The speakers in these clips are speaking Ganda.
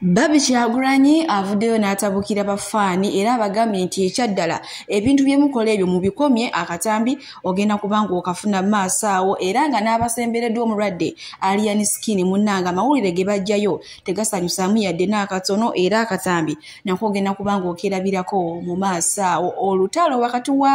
Babi Kyagulanyi avuddeyo n'atabukira bafaani era abagambye nti ekyaddala ebintu bye mukola ebyo mu bikomye akatambi ogenda kuba ng'okafuna mu maaso awo era nga n'abasembereddwa omulwadde Alian Skin munnanga amawulire ge bajjayo tegasanyusaamu yadde n'akatono era akatambi nako ogenda kuba ng'okerabirako mu maaso awo olutalo wakati wa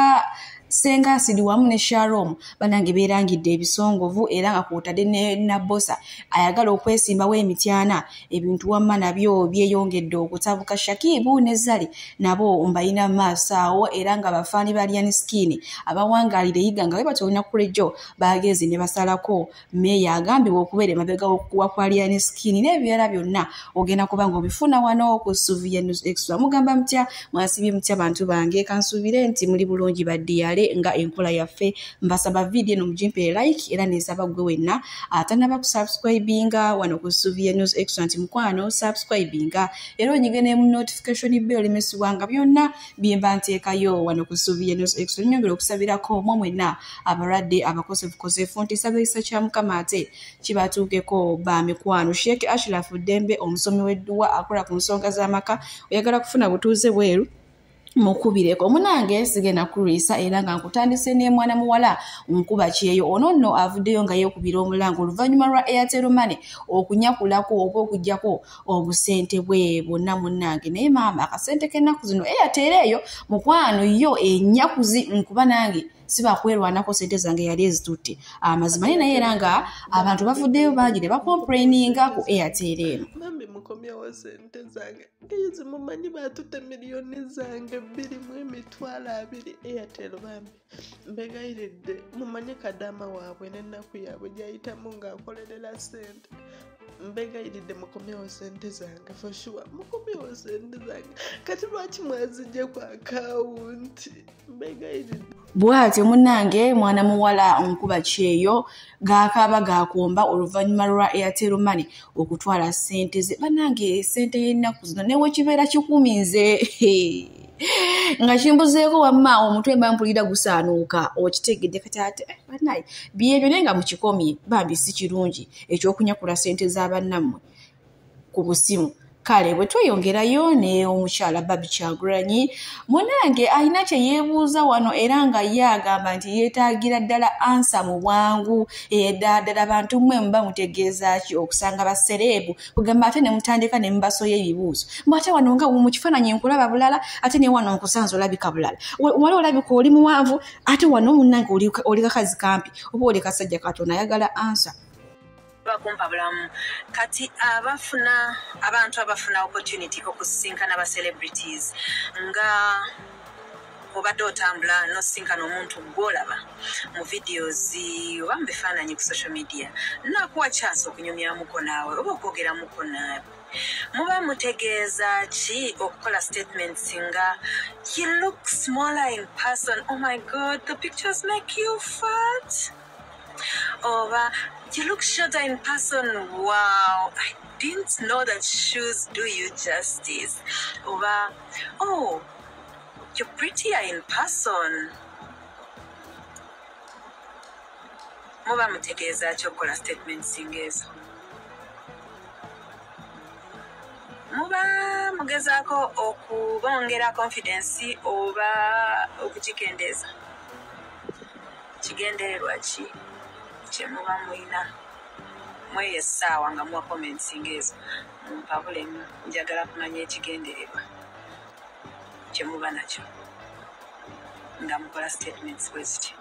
senga asidi wamu ne sharom banange berangidde ebisongovu era nga kwotadde ne nabosa ayagala okwesimbawo emityana ebintu wamma nabyo byeyongedde okutabuka shakibu ne zali nabo mbalina maaso awo era nga bafaani balyan skin abawangalira eyiga nga webatolina kulejo bagezi ne basalako meeya agambibwa okubeera emabega w'okukuwa kwa liani skin n'ebirala byonna ogenda kuba nga obifuna wano ku suviya news extra mugamba mutya mwasibye mutya bantu bange kansuubire nti muli bulungi baddiyale nga enkola yaffe mbasaba vidiyo eno mugimpere like era neesaba ggwe wenna atanaba ku subscribinga wano ku suviya news extra nti mukwano subscribinga era onyige ne mu notification bell lemesibwa nga byonna byemba nteekayo wano ku ssuubi yenextra nyongera okusabirako mwe mwenna abalwadde abakosefukosefu nti sabisa kya mukama ate kibatuukeko ba mikwano sheek ashraf ddembe omusomi w'edduwa akola ku nsonga z'amaka oyagala kufuna butuuze bweru mukubireko munange sigenda kulwisa era nga nkutandise n'emwana muwala nkuba kyeyo ono nno avuddeyo nga yeekubira omulanga oluvannyuma lwa airtel money okunyakulako oba okujjako obusente bwe bwonna munnange naye maama akasente k'ennaku zino eya eh, teera eyo mukwano yo enyakuzi nkuba nange sibakwerwanako sente zange yali ezitutte amazima naye naye era nga abantu bavuddeyo bangi ne bakomplaininga ku airtel eno mami mukomyewo sente zange ezimumanyi batutte miliyoni zange bbiri mu emitwalo abiri airtel bambi mbegayiridde mumanye kadaama waabwe n'ennaku yaabwe gyayitamu ng'akolerera ssente mbegayiridde mukomyewo sente zange foshuwa mukomyewo sente zange kati lwaki mwazijje ku akawunti mbegayiridde bwatyo munange mwana muwala onkuba kyeyo gakaaba gakomba oluvannyuma lwa airtel money okutwala sente ze banange sente y'ennaku zino newekibeera kikumi nze nga kimbuzeeko wamma omutwe mba mpulira gusaanuuka okitegedde kati ate eh, banaye byebyo naye nga mukikomye bambi si kirungi ekyokunyakula sente za bannammwe ku busimu kale bwe tweyongerayo ne omukyala babi kyagulanyi munange alina kye yeebuuza wano era nga ye agamba nti yeetaagira ddala ansa mu bwangu edaadala bantu mmwe muba mutegeeza ki okusanga basereebu kugamba ate nemutandika nemubasoya ebibuuzo mbu ate wano nga mu kifaananyi nkulaba bulala ate ne wano nkusanza olabika bulala wali olabika oli muwanvu ate wano munange oli kakazi kampi oba oli kasajja katonda ayagala ansa bakumpa bulamu kati abafuna abantu abafuna opportunity okusisinkana ba celebrities nga obadde otambula nosinkana omuntu gwolaba mu videos oba mu bifaananyi ku social media nakuwa chance okunyumyamuko naawe oba okwogeramuko naawe muba mutegeeza ki okukola statement singa he look smaller in person oh my god the pictures make you fat oba you look shorter in person wow I didn't know that shoes do you justice oba oh You're prettier in person. Muba mutegeeza ki okukola statements ng'ezo? Muba mugezaako okubongera confidence oba okugikendeeza? Kigendererwa ki kye muba mulina? Mweyo essaawa nga muwa comments ng'ezo, mumpabulemu. Njagala kumanya ekigendererwa. kyemuba nakyo nga mukola statements bweziti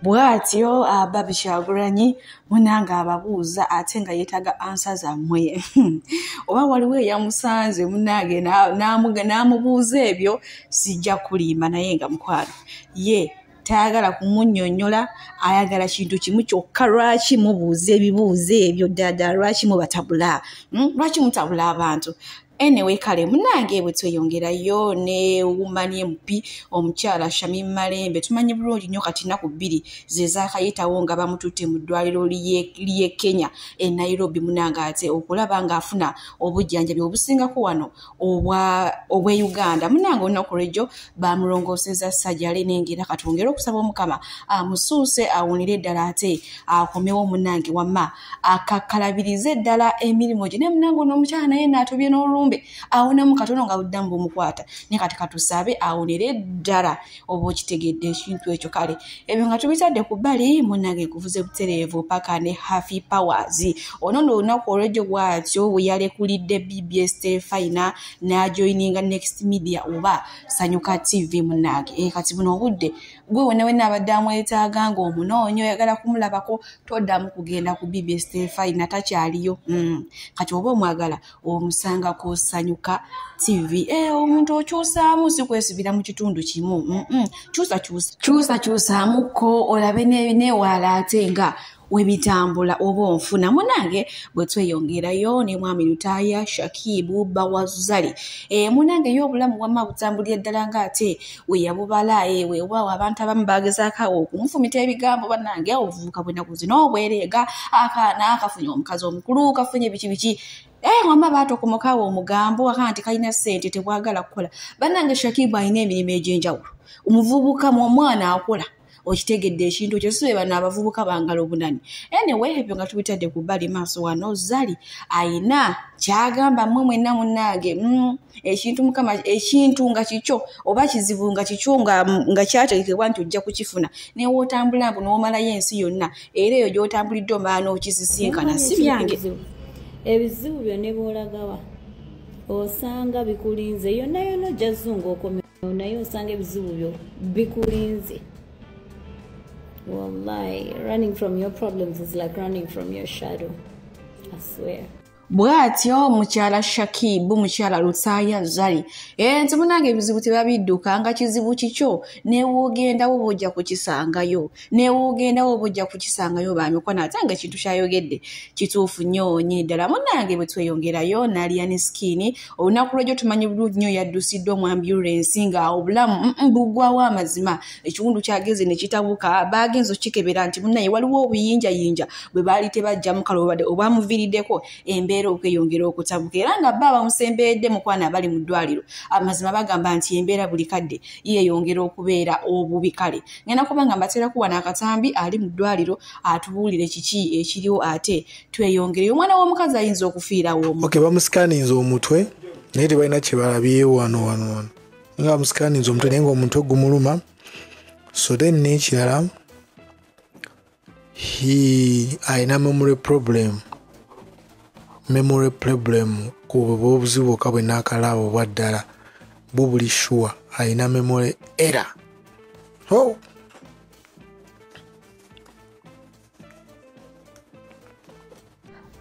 bwatyo ababi kyagulanyi munanga ababuuza ate nga yetaga ansa zammwe oba waliwo eyamusanze munange n'amubuuza ebyo sijja kulimba naye nga mukwano ye tayagala kumunyonyola ayagala kintu kimu kyokka lwaki mubuuza ebibuuzo ebyo ddada lwaki mubatabula hmm? lwaki mutabula abantu anyway kale munange ebwe tweyongerayo ne woman mp omukyala shami malembe tumanyi bulungi nnyo kati naku bbiri zezakayitawo nga bamututte mu ddwaliro lye kenya e nairobi munange ate okulaba ngaafuna obujjanjabi obusingako wano obwe uganda munange olunaku lwejjo bamulongooseza sajale nengeera katwongere okusaba omukama amusuuse awunire eddala ate akomewo munange wamma akakalabirize ddala emirimu gye naye munange ono omukyala naye naatobye n'olumbe awonamu katono nga buddamu bumukwata naye kati katusabe awonere ddala oba okitegedde ekintu ekyo kale ebyo nga tubitadde ku bbali munange kuvuze butereevu paka ne haffy powers ono no olunaku olwejjo bwatyo weyalekulidde bbs tefina n'ajoininga next media oba sanyuka tv munange e kati buno obudde gwe wena wena abadde amwetaaga nga omunoonyi oyagala kumulabako toddamu kugenda ku bibi stefai natakyaliyo mm. kati oba omwagala omusanga kusanyuka tv eh, omuntu okyusaamu sikwesibira mu kitundu kimu kyusakyusa kyusa kyusaamuko olabe newaala ate nga webitambula oba onfuna munange bwetweyongerayo ne mwami lutaaya shakibu bawazali e, munange yo obulamu wama butambulira ddala nga ate weyabubala ewewaawo e, abantu abamu bagezaako okumufumita ebigambo banange obuvubuka bwenaku zino obwereega akaana kafunye omukazi omukulu kafunye biki biki Eh, wama baatokomokawo omugambo waka nti kalina ssente tebwagala kukola bannange shakibu alina emirimu egy'enjawulo omuvubuka mu omwana akola okitegedde ekintu ekyo sibe bano abavubuka bangala obunani anyway ebyo nga tubitadde ku bbali maaso wano zali ayina kyagamba mwe mwenna munnange mm, ekintu mukama ekintu nga kikyo oba kizibu nga kikyo nga kyategekebwa nti ojja kukifuna newootambula mbu n'omalayo ensi yonna era eyo gy'otambulidde omala n'okisisinkana si byange ebizibu byo ne bwolagawa osanga bikulinze yonna yonna ojja zunga okomera naye osanga ebizibu byo bikulinze wallahi running from your problems is like running from your shadow i swear bw'atyo mukyala shakibu mukyala lutaaya zali ee nti munange ebizibu tebabidduka nga kizibu kikyo newogendawo bwojja kukisangayo newogendawo oba ojja kukisangayo bamikwano ate nga ekintu kyayogedde kituufu nnyo nyini ddala munange bwe tweyongerayo naliya ne sikiini olunaku lwegyo tumanyi bulungi nnyo yaddusidde omwambulensi nga obulamu bugwawo amazima ekiwundu kyageze ne kitabuka baagenza okukikebera nti munaye waliwo obuyinjayinja bwe baali tebajja mukalo obadde obwamuviiriddeko embeera okweyongera okutabuka era nga bba bamusemberedde mukwana abali mu ddwaliro amazima bagamba nti embeera buli kadde yeeyongera okubeera obubi kale ngenda kuba nga mbateerako wano akatambi ali mu ddwaliro atubuulire kiki ekiriwo ate tweyongereyo omwana w'omukazi ayinza okufiirawo omu okay, bamusikaninze omutwe naye tebalina kyebalabye wano wano wano nga bamusikaninze omutwe naye nga omutwe gumuluma so then n'ekirala alina memory problem memory problem kubwebwa obuzibu bwoka bwe nakalaaba obwa ddala bwo buli sure alina memory era oh.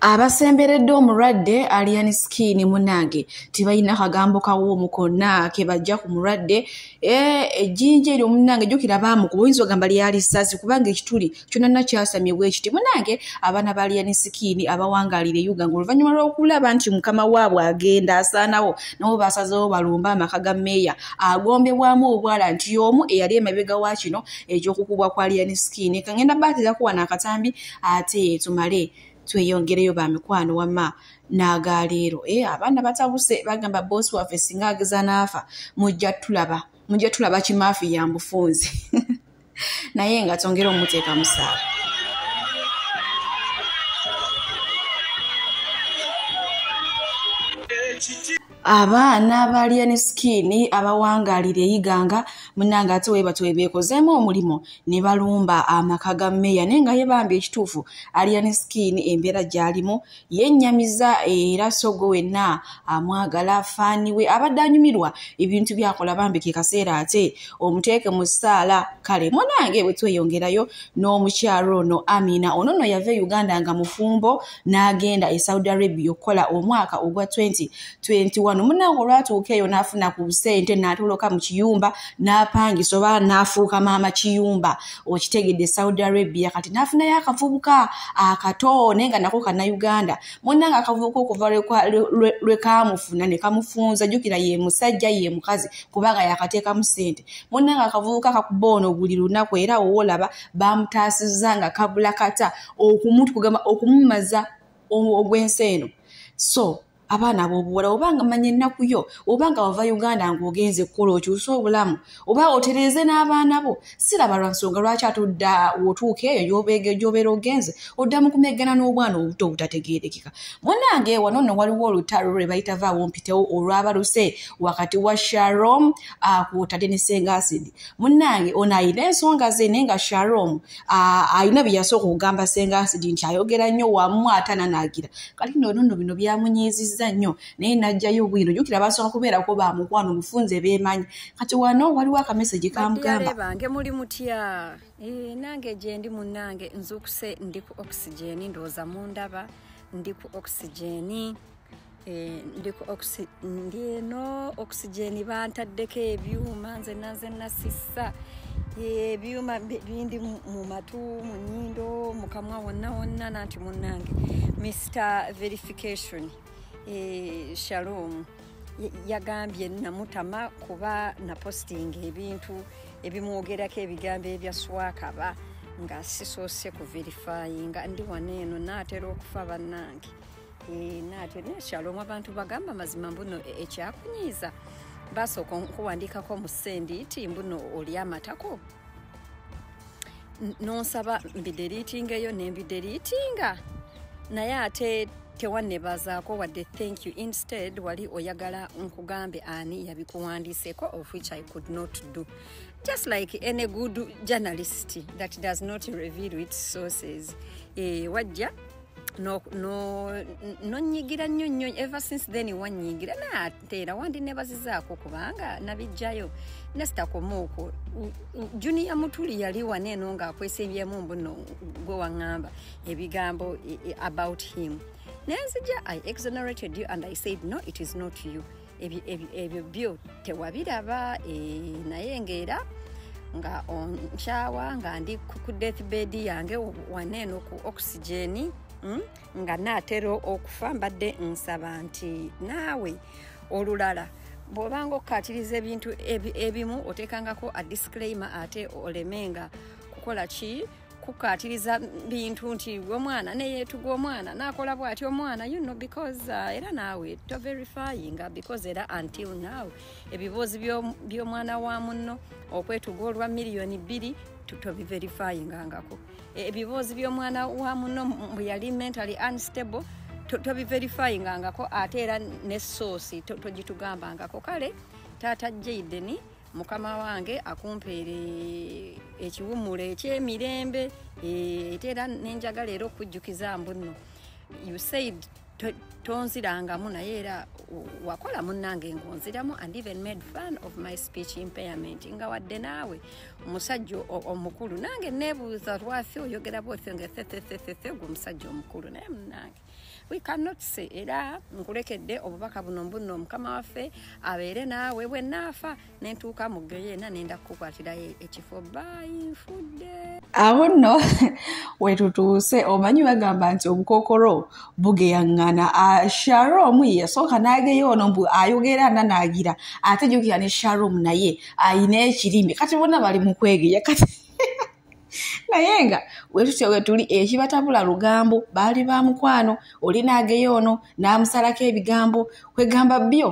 abasemberedde omulwadde alian skin munange tebalina kagambo kawoomu konna kebajja ku mulwadde eh, ejjinja eryo munange jukira baamukuba oyinza ogamba lyali sasi kubanga ekituli kyonana kyasamye bwekiti munange abaana ba alian skin abawangalira eyuga nga oluvannyuma lw'okulaba nti mukama waabwe agenda asaanawo nabo basazewo balumba amaka ga meeya agombebwamu obwala nti y'omu eyali emabega wa kino ekyokukubwa kwa alian skin kangenda baaterakuwa naakatambi ate tumale tweyongereyo ba mikwano wama n'agaleero e eh, abaana batabuse bagamba boosi waffe singa ageza n'afa mujja tulaba mujja tulaba kimaafi ya mbufunzi naye nga tongere omuteeka musaala abaana abalya ne sikiini abawangaalira eyiganga munange ate webati webeekozeemu omulimu ne balumba amaka ga meeya naye nga ye bambi ekituufu alya ne sikiini embeera gy'alimu yennyamiza era sogo wenna amwagala faani we abadde anyumirwa ebintu byakola bambi ke kaseera ate omuteeke mu ssaala kale munange bwe tweyongerayo n'omukyalo ono amina ono no yava e uganda nga mufumbo n'agenda e saudi arabia okukola omwaka ogwa 2021 munange olwatuuka eyo n'afuna ku busente n'atoloka mu kiyumba n'apangisa oba n'afuuka maama kiyumba okitegedde e saudi arabia kati n'afunayo akavubuka akato naye nga nako kana uganda munange akavubuka okuva lwekamufuna ne kamufunza jjukira ye musajja ye mukazi kubanga yakateekamu sente munange akavubuka kakuba ono buli lunaku era owoolaba bamutaasizza nga kabula kata okumutu kugamba okumumaza ogw'ensi eno so abaana abobuwala obanga manya ennaku yo obanga wava uganda ngaogenze kukola okyuse obulamu oba otereeze n'abaana bo siraba lwa nsonga lwaki atudda wotuuka eyo gyobeera ogenze odda mu kumeggana n'obwana obuto obutategeerekeka munange wano nno waliwo olutalo lwe bayita vaawo mpitewo olwabaluse wakati wa sharom akwotadde ne senga asidi munange ono ayina ensonga ze naye nga sharom alina byeyasooka okugamba senga asidi nti ayogera nnyo wamu ate ananaagira kati noono no bino byamunyiizizza nnyo naye najjayo bwino jukira basooka kubeerako ba mukwano mufunze beemanyi kati wano waliwo akameseji kamugamba bange muli mutya eh, nange gyendi munange nzuukuse ndi ku oxygen ndowooza mundaba ndi ku oxygen Eh, ndi eno oxygen bantaddeko ebyuma nze nanze nasisa eh, ebyuma bindi mu matu mu nyindo mukamwa wonna wonna nanti munange mr verification eh, shalom yagambye namutama kuba napostinga ebintu ebimwogerako ebigambo ebya swakaba nga sisoose kuverifyinga ndi wano eno naatera okufa bannange Eh, naate nekyalo omu abantu bagamba mazima mbuno e, ekyakunyiiza basooka nkuwandiikako mu sendiiti mbuno oli amatako nonsaba mbideriitingeyo nembideriitinga naye ate tewannebazaako wadde thank you instead wali oyagala nkugambe ani yabikuwandiiseko of which i could not do just like any good journalist that does not reveal its sources e, wajja nonyigira nnyo nnyo ever since then wanyigira naate era wandi nebazizaako kubanga nabijjayo nesitakoma okwo juniya mutuli yali wana eno ngaakwesibyemu mbuno gwe waŋŋamba ebigambo e, e, about him nenzija i exonerated you and i said no it is not you ebyo byo tewabiraba eh, naye ngaera nga nkyawa nga ndi ku death bed yange waneeno ku oxygeni hmm, nga naatera okufa mbadde nsaba nti naawe olulala bwobanga okukatiriza ebintu ebimu oteekangako a disclaimer ate oleme nga kukola ki kukatiriza bintu nti omwana neyetuga omwana nakola bwati omwana you know because uh, era naawe to verifying uh, because era until now ebiboozi by'omwana wa munno okwetuga olwa miliyoni bbiri tobiverifyingangako e, ebiboozi by'omwana wa munno mbu yali mentally unstable tobiverifyingangako ate era ne soosi togitugambangako kale taata jaideni to mukama wange akumpeere ekiwummulo ekyemirembe ete eh, era nenjagala era okujjukiza mbunno you said tonzirangamu naye era wakola munange ngonziramu and even made fun of my speech impairment nga wadde naawe omusajja omukulu nange nebuuza lwaki oyogera bwotyo nga thethethethethegwe omusajja omukulu naye munange we cannot say era nkulekedde obubaka buno mbunno omukama waffe abeere naawe bwe naafa nentuuka mu geyeena nenda kukukwatirayo ekifo bayinfudde awo nno wetutuuse omanyi bagamba nti obukokolo bugeyaŋŋana ah, sharom yasooka nageyo ono mbu ayogera nanaagira ate jukira ne sharom naye ayina ekirimi kati bona bali mukwegeya kati naye nga wetutyo wetuli ekibatabula eh, lugambo baali ba mukwano oli naageyo ono n'amusalako ebigambo kwegamba byo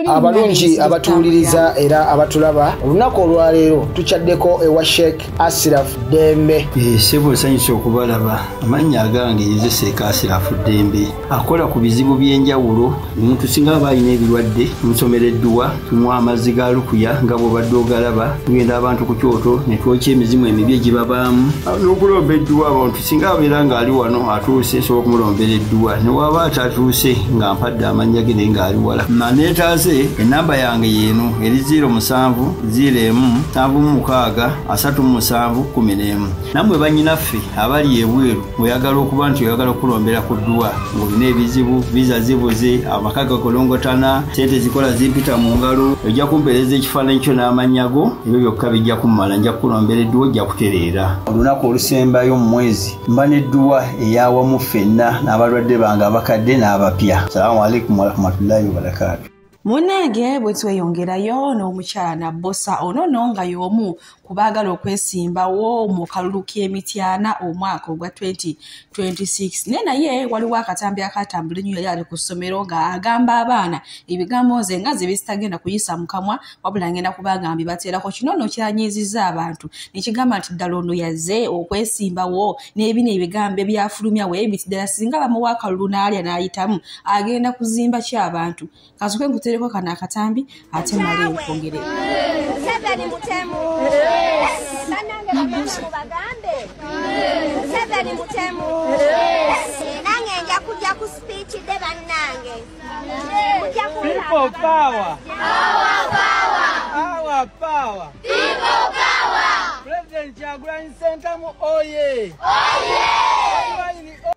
abalungi abatuwuliriza era abatulaba olunaku olwaleero tukyaddeko ewa sheik asiraf dembe eh, sebo nsanyusa okubalaba amannya agange nze seeka asiraf dembe akola ku bizibu by'enjawulo omuntu singa aba alina ebirwadde musomera edduwa tumuwa amazzi ga lukuya nga bwobadde ogalaba tugenda abantu ku kyoto ne twokya emizimu emibi egibabaamu n'okulomba edduwa abantu singa abeera ng'ali wano atuuse esobola okumulombera edduwa ne waba atatuuse nga mpadde amannya ge naye ng'ali wala maneetaase ennamba yange yeeno eri 0 musanvu 0 emu nsanvu mu mukaaga asatu mu musanvu kumi n'emu nammwe bannyinaffe abali ebweru oyagala okuba nti oyagala okulombera ku dduwa ng'olina ebizibu viza zibuze amaka gakolongotana sente zikola zimpita mu ngalo ojja kumpeereza ekifaananyi kyo n'amannya go ebyo byokka bijja kummala nja kukulombera edduwa ojja kutereera olunaku olusembayo mu mwezi mba n'edduwa eyawamu ffenna n'abalwadde bange abakadde n'abapya salamu aleikum warahmatullahi wabarakatu munnange bwe tweyongerayo n'omukyala nabbosa ono no nga y'omu ku baagala okwesimbawo mu kalulu k'emityana omwaka ogwa 2026 naye naye waliwo akatambi akaatambula ennyo yali ali ku ssomero ng'agamba abaana ebigambo nze nga ze bizitagenda kuyisa mu kamwa wabula ngenda kubanga mbi bateerako kino no kyanyiizizza abantu nekigamba nti ddala ono yaze okwesimbawo n'ebino ebigambo ebyafulumya we ebiti ddala singa bamuwa akalulu n'alya n'ayitamu agenda kuzimba ki abantu kazuke nkuteereko kano akatambi ate male nkwongere nange nja kujja ku speech de bannange People power. Power, power. Our power. People power. President Kyagulanyi Ssentamu oye. Oye.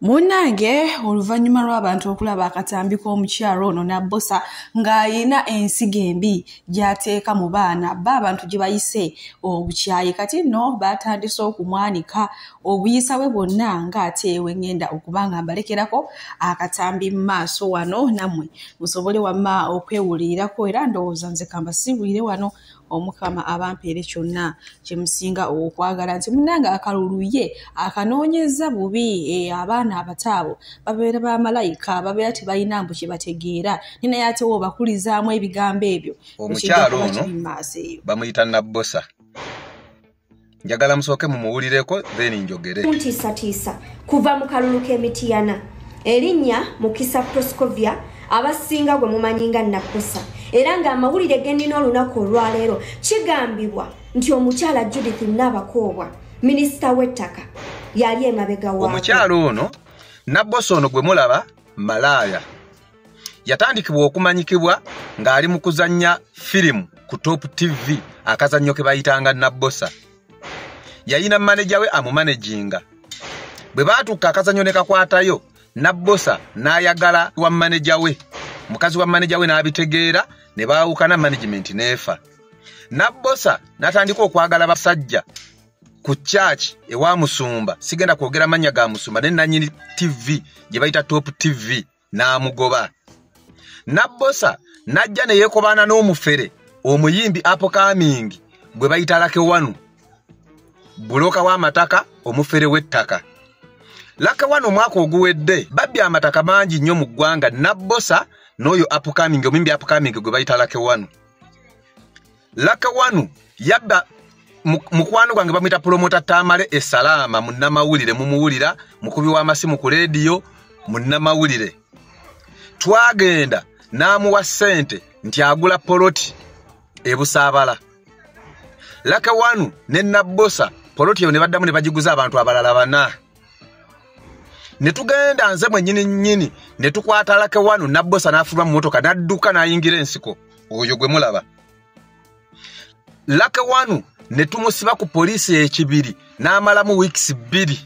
munnange oluvannyuma lw'abantu okulaba akatambi k'omukyalo ono n'abbosa ng'alina ensigo embi gy'ateeka mu baana ba abantu gye bayise obukyayi kati nno baatandise okumwanika obuyisa bwe bwonna nga ate ewe ŋŋenda okuba nga mbalekerako akatambi mu maaso wano nammwe musobole wamma okwewulirirako era ndowooza nze kambasiibulire wano omukama abampeere kyonna kyemusinga okwagala nti munange akaluluye akanoonyeza bubi e, abaana abataabo babeera ba malayika babeera tebalina mbu kyebategeera ni naye atewo obakulizaamu ebigambo ebyo omukyalo ono bamuyita nabbosa njagala musooke mumuwulireko then njogere muntiisatiisa kuva mu kalulu k'emitiyana erinnya mukisa proscovia abasinga gwe mumanyi nga nakkusa era ng'amawulire gennina olunaku olwaleero kigambibwa nti omukyala judith naabakoobwa minisita w'ettaka yali emabega wa omukyala ono nabbosa ono gwe mulaba malaaya yatandikibwa okumanyikibwa ng'ali mu kuzannya firimu ku top tv akazannyo ke bayitanga nabbosa yayina maneja we amumanejinga bwe baatuuka akazannyo ne kakwatayo nabbosa n'ayagala wa maneja we mukazi wa maneja we n'abitegeera ne baawukana management n'efa nabbosa n'atandika okwagala basajja ku church ewa musumba sigenda kwogera manya ga musumba ne nanyini tv gye bayita top tv n'amugoba nabbosa n'ajja ne yeekobaana n'omufere omuyimbi apokamingi gwe bayita lakewanu buloka w'amataka omufere w'ettaka lakewanu omwaka oguwedde babbi amataka mangi nnyo mu ggwanga nabbosa n'oyo apokamingi omuyimbi apokamingi gwe bayita lakewanu laka wanu yabba mukwano gwange bamwita pulomota tamale esalaama munnamawulire mumuwulira mukubi w'amasimu ku leediyo munnamawulire twagenda n'amuwa ssente nti agula poloti ebusaabala laka wanu ne nabbosa poloti eyo ne baddamu ne bagiguza abantu abalala bana ne tugenda nze mwenyini nyini ne tukwata lake wanu nabbosa n'afuluma mu motoka n'adduka n'ayingira ensiko oyo gwe mulaba lake wanu ne tumusiba ku poliisi ekibiri n'amalamu wiikisi bbiri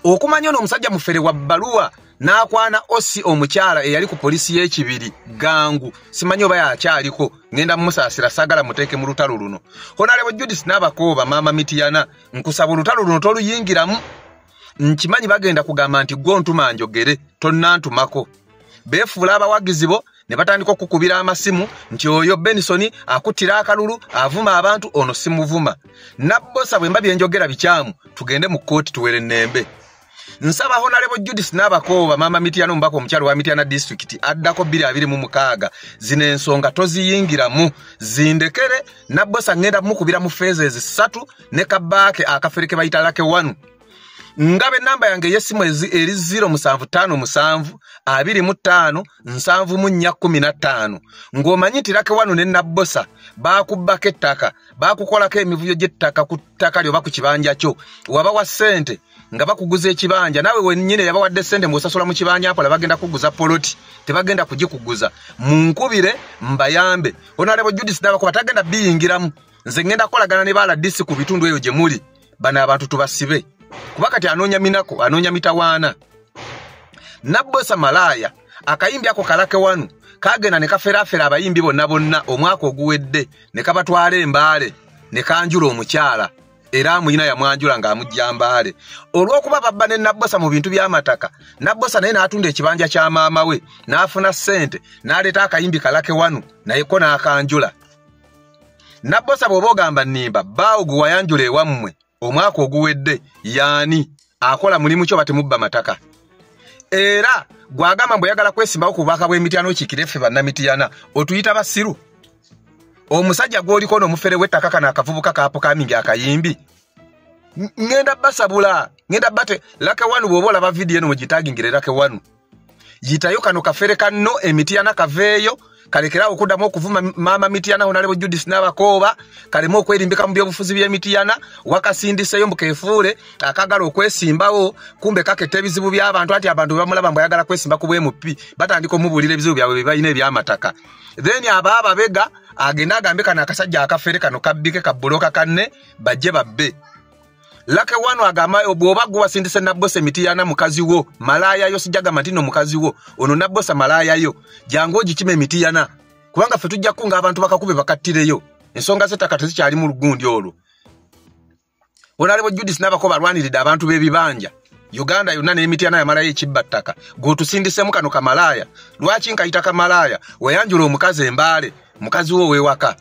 okumanya ono omusajja mufere wa bbaluwa n'akwana osi omukyala eyali ku poliisi y'ekibiri gangu simanyi oba yakyaliko ŋenda mumusaasira sagala muteeke mu lutalo luno honalebo judis n'abakooba maama mitiyana nkusaba olutalo luno toluyingiramu nkimanyi bagenda kugamba nti gwe ontuma njogere tonnantumako beefuula abawagizi bo ne batandika okukubira amasimu nti oyo benisoni akuttira akalulu avuma abantu ono simuvuma nabbosa bwe mba byenjogera bikyamu tugende mu kkooti tuwere nnembe nsaba honalebo judith nabakooba mama mityana omubaka omukyalo wa mityana disitulikiti addako 226 zino ensonga toziyingiramu zindekere nabbosa ŋenda mukubira mu feeza ezisatu ne kabaake akafere ke bayita lake wanu ngabe namba yange eyesimu eri 07572575 ng'omanyi nti lake wanu ne nabbosa bakubbako ettaka bakukolako emivuyo gy'ettaka ttaka lyoba ku kibanja kyo waba wa ssente nga bakuguza ekibanja naawe wenyini yabawadde ssente muosasula mu kibanja mpola bagenda kuguza poloti tebagenda kugikuguza munkubire mbayambe onalebo judis dabakuba tagenda biyingiramu nze ngenda kukolagana ne baladisi ku bitundu eyo gye muli bano abantu tubasibe kuba kati anoonya minako anoonya mitawaana nabbosa malaaya akayimbi ako kalake wanu kagenda ne kaferafera abayimbi bonna bonna omwaka oguwedde ne kabatwala embaale ne kanjula omukyala era amuyina yamwanjula ng'amujja mbaale olw'okuba babba ne nabbosa mu bintu by'amataka nabbosa naye n'atunda ekibanja kya maama we n'afuna ssente n'aleeta akayimbi kalake wanu naye ko n'akanjula nabbosa bw'oba ogamba nnimba bbaawo gwe wayanjula ewammwe omwaka oguwedde yaani akola mulimu kyo batemubba mataka era gwagamba mbu oyagala kwesimbawo ku bubaka bw'emityana okiikire ffe bannamityana otuyita basiru omusajja gw'oliko n'omufere w'ettaka kano akavubuka kaapukamingi akayimbi ngenda basabula ngenda bate lake wanu bwoba olaba vidiyo eno mugitagingire lake wanu yitayo kano kafere kanno emityana kaveeyo kalekerawo okuddamu okuvuma maama mityana honalebo judis n'abakooba kalemu okwerimbika mu byobufuzi by'emityana wakasindiseyo mbu kefuule akagala okwesimbawo kumbe kaketta ebizibu by'abantu anti abantu bebamulaba mbu ayagala kwesimba ku bwemupi batandika omubuulira ebizibu byabwe byebalina ebyamataka then aba ababega agende agambe kano akasajja akafere kano kabbike kabbuloka kanne bajje babbe lake wano agamayo bwoba gwewasindise nabbosa emiti yana mukazi wo malaaya yo sijagamba nti no mukazi wo ono nabbosa malaaya yo jangu ogikima emiti yana kubanga ffe tujja kukunga abantu bakakube bakattireyo ensonga zettaka tezikyali mu lugundi olwo olaliwo judis nabako balwaniridde abantu b'ebibanja uganda yonna n'emiti yana yamalayo ekibba ttaka gweotusindisemu kano kamalaaya lwaki nkayita kamalaaya wayanjula omukazi embaale mukazi wo ow'ewaka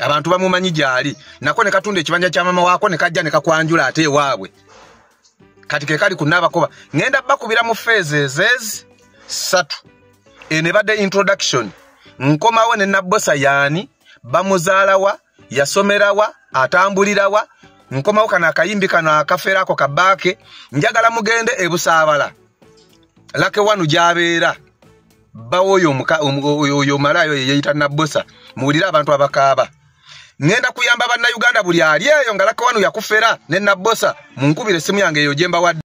abantu bamumanyi gyali nako ne katunda ekibanja kya mama waako ne kajja ne kakwanjula ate ewaabwe kati ke kali kunaabakoba ŋenda bakubira mu feezezezi ssatu eno ebadde introduction nkomawo ne nabbosa yaani bamuzaalawa yasomerawa atambulirawa nkomawo kano akayimbi kano akaferaako kabaake njagala mugende ebusaabala lake wanu gyabeera bbawo oyo omuka- omu- oyo oyo omalaaya oyo yeeyita nabbosa muwulire abantu abakaaba ŋŋenda kuyamba bannayuganda buli ali eyo nga lakawanu yakufera ne nabbosa munkubira essimu yange eyo gye mbawadde